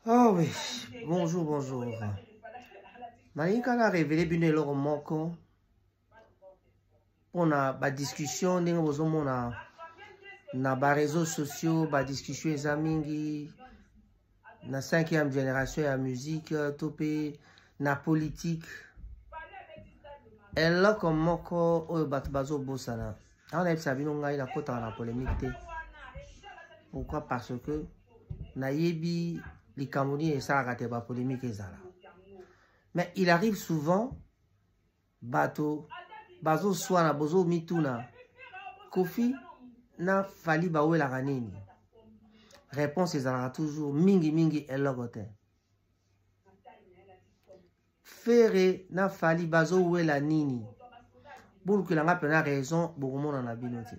Ah oui, bonjour, bonjour. Nalinga na révélé bino eloko moko mpona badiscussion ndenge bozomona na bareseau sociaux badiscussion eza mingi na cinquième génération ya musique to mpe na politique eloko moko oyo bato bazobosana awa nayebisa bino ngai nakotaka na polemique te pourquoi parce que nayebi likambo nini esalaka te bapolemike ezala mais il arrive souvent bato bazoswana bozomituna kofi na fali bawelaka nini réponse ezalaka toujours mingimingi eloko te fere na fali bazowela nini bolukela nga mpena raison bokomona na bino te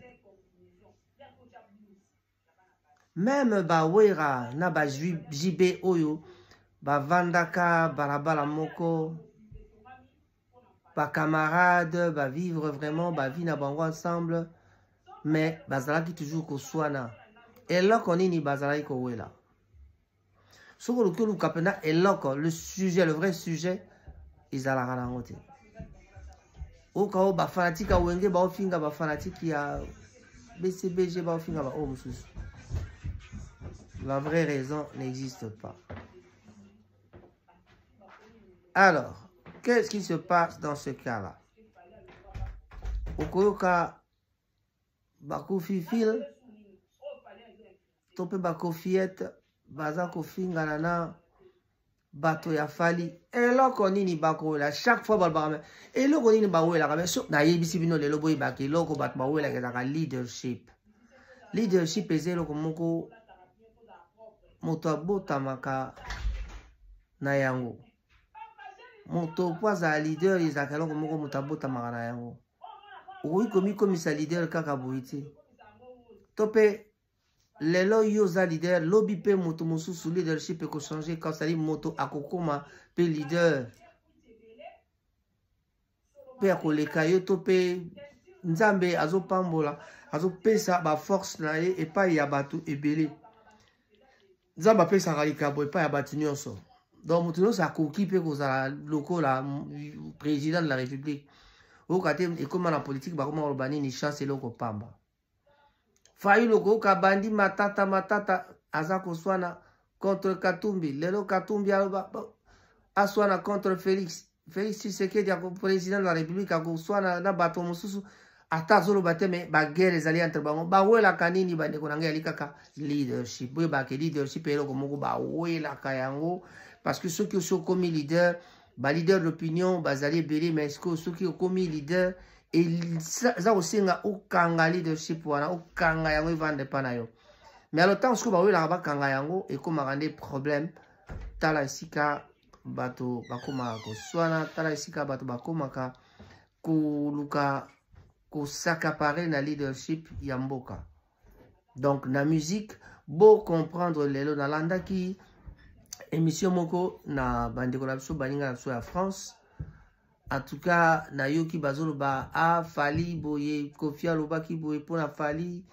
meme bawera na ba jb oyo bavandaka balabala moko bacamarade bavivre vraiment bavie na bango ensemble mais bazalaki toujours koswana eloko nini bazalaki kowela soki oluki oluka mpenza eloko le sujet le vrai sujet ezalaka na yango te oyoka oyo bafanatike ya wenge baofinga bafanatike ya bcbg baofinga baoyo mosusu la vraie raison n'existe pas alors qu'est-ce qui se passe dans ce cas là okoyoka bakufi fil to mpe bakofiete baza kofingana na bato ya fali eloko nini bakowela chaque fois balobaka me eloko nini bawelaka me so nayebisi bino lelo boyebaka eloko bato bawelaka ezalaka leadership leadership eza eloko moko moto abotamaka na yango moto mpo azala leader ezalaka eloko moko moto abotamaka na yango okoki komikomisa leader kaka boye te to mpe lelo yo oza leader lobi mpe moto mosusu leadership ekochange kasali moto akokoma mpe leader mpe akoleka yo to mpe nzambe azopambola azopesa baforce na ye epai ya bato ebele nzambe apesaka likambo epai ya bato nyonso donc moto nyonso akoki mpe kozala lokola président de la république oyoka te ekóma na politike bakóma koloba nini chance eloko pamba fayulu okoyoka bandi matata matata aza koswana contre katumbi lelo katumbi aloba aswana contre felix felix tshisekedi ako président de la république akoswana na bato mosusu ata azoloba te me baguerre ezali entre bango bawelaka nini bandeko na ngai yali kaka leadership boyebake leadership eloko moko bawelaka yango parce que soki osi okomi leader ba leader d'opinion bazali ebele mais sikoyo soki okomi leader eza kosenga okanga leadership wana okanga yango evanda epa na yo mais alo ntango sikoyo bawelaka bakanga yango ekomaka nde problème tala esika bato bakomaka koswana tala esika bato bakomaka koluka kosakapare na leadership ya mboka donc na musique bocomprendre lelo nalandaki émission moko na bandeko na biso baninga na biso ya france en tout cas nayoki bazoloba a ah, fali boye kofi alobaki boye mpo na fali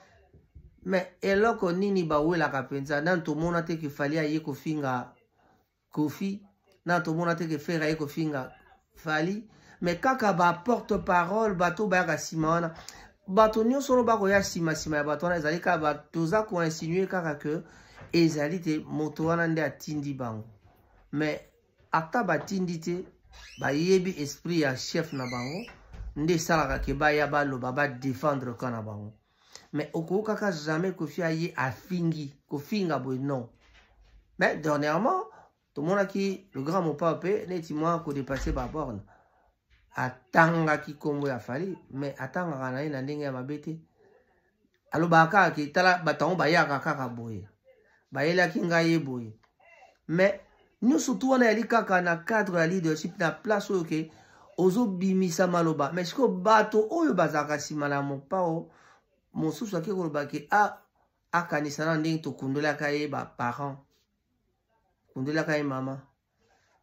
mais eloko nini bawelaka mpenza nani tomona te ke fali aye kofinga kofi na tomona te ke fere aye kofinga fali me kaka baporte parole bato bayaka nsima wana bato nyonso oyo bakoya nsima nsima ya bato wana ezali kaka toza koinsinue kaka ke ezali te moto wana nde atindi bango me ata batindi te bayebi esprit ya chef na bango nde esalaka ke baya baloba badefendre ka na bango mais okokaka jamais kofi aye afingi kofinga boye non mais dernièrement tomonaki le grand mopao mpe neti mwa kodepasse baborne atangaki nkombo ya fali mais atangaka na ye na ndenge ya mabe te alobaka kaka ke tala bato yango bayaka kaka boye bayelaki ngai ye boye mais nyonso tu wana yali kaka na cadre ya leadership na place oyo ke ozobimisa maloba mais sikoyo bato oyo bazalaka nsima na mopao mosusu ake koloba ke a ah, akanisa na ndenge tokundolaka ye baparent kundolaka ye mama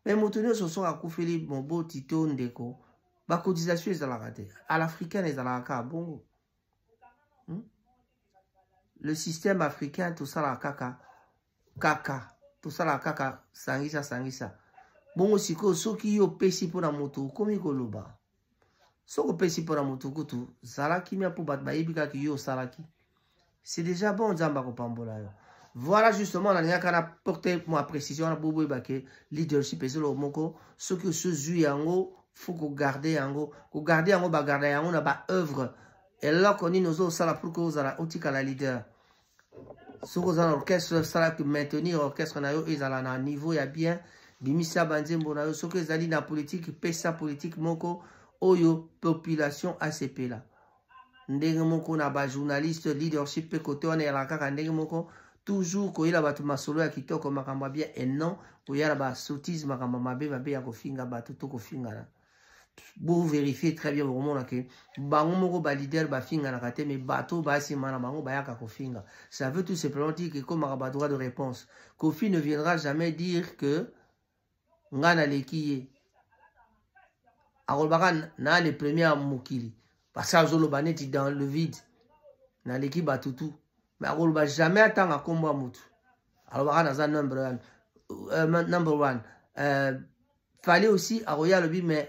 me moto nyonso soki akufeli moboti to ndeko bacotisation ezalaka te à l'africaine ezalaka kaka bongo hmm? le système africain tosalaka kaka kaka tosalaka kaka sangisa sangisa bongo sikoyo soki yo opesi mpo na moto okomi koloba soki opesi mpo na moto kutu zala kimia mpo bato bayebi kaka yo osalaki c'est déjà bon nzambe akopambola yo voilà justement nalingaka na porte mwa précision wana boboyeba ke leadership ezoloko moko soki osozwi yango faut kogarde yango kogarde yango bagarda yango na baoeuvre eloko nini ozosala pour ke ozala otikala leader soki oza na orchestre sala maintenir orchestre na yo ezala na niveau ya bien bimisa banzembo na yo soki ezali na politike pesa politike moko oyo population asepela ndenge moko na ba journaliste leadership mpe kote wana eyaka kaka ndenge moko toujours koyela bato masolo ya kitoko makambo ya bien et non koya na ba sottise makambo mabe mabe ya kofinga bato to kofingana bo vérifier très bien bokomona ke bango moko ba leader bafinganaka te mais bato baya nsima na bango bayaka kofinga ça veut tout simplement dire que ekomaka ba droit de réponse kofi ne viendra jamais dire que ngai naleki ye akolobaka na le premier ya mokili parce azoloba neti dans le vide naleki bato tu me akoloba jamais atanga nkombo ya motu alobaka naza number one, uh, number one. Uh, fali aussi akoya alobi me